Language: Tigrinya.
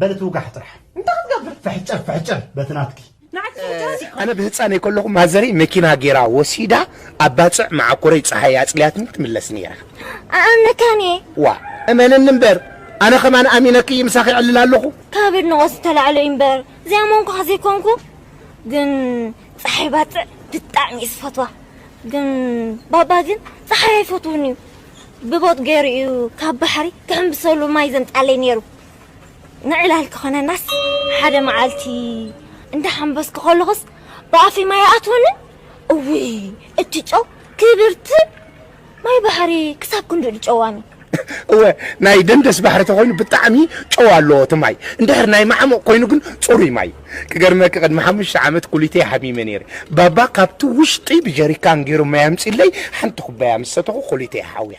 በል ትውጋሕ ጥራሕ እንታይ ክትገብር ፍሕጭር ፍሕጭር በቲ ናትኪ ኣነ ብህፃነይ ከለኹ ማዘረይ መኪና ጌራ ወሲዳ ኣብ ባፅዕ መዓኮረይ ፀሓይ ኣፅልያትኒ ትምለስ ነይራ ኣኣመካን እየ ዋ እመንኒ እምበር ኣነ ከማን ኣሚነክይ ምሳኺ ዕልል ኣለኹ ካብ ንቆስ ዝተላዕሎ እዩ እምበር ዘይኣመንኩኻ ዘይኮንኩ ግን ፀሓይ ባፅዕ ብጣዕሚ እዩ ዝፈትዋ ግን ባባ ግን ፀሓይ ኣይፈትውን እዩ ብቦጥ ገይሩ እዩ ካብ ባሕሪ ክሕምብሰሉ ማይ ዘምጻለይ ነይሩ። ንዕላል ክኾነናስ ሓደ መዓልቲ እንዳሓምበስኩ ከለኹስ ብኣፈይ ማይ ኣይኣትወንን። እውይ እቲ ጨው ክብርቲ ማይ ባሕሪ ክሳብ ክንድኡ ድዩ ጨዋሚ? እወ ናይ ደንደስ ባሕሪ ተኾይኑ ብጣዕሚ ጨው ኣለዎ እቲ ማይ። እንድሕር ናይ ማዓሙቕ ኮይኑ ግን ጽሩይ ማይ። ክገርመኪ ቅድሚ ሓሙሽተ ዓመት ኩሊተይ ሓሚመ ነይረ ባባ ካብቲ ውሽጢ ብጀሪካን ገይሩ ማይ ኣምፂለይ ሓንቲ ኩባያ ምስ ሰተኹ ኩሊተይ ሓውያ።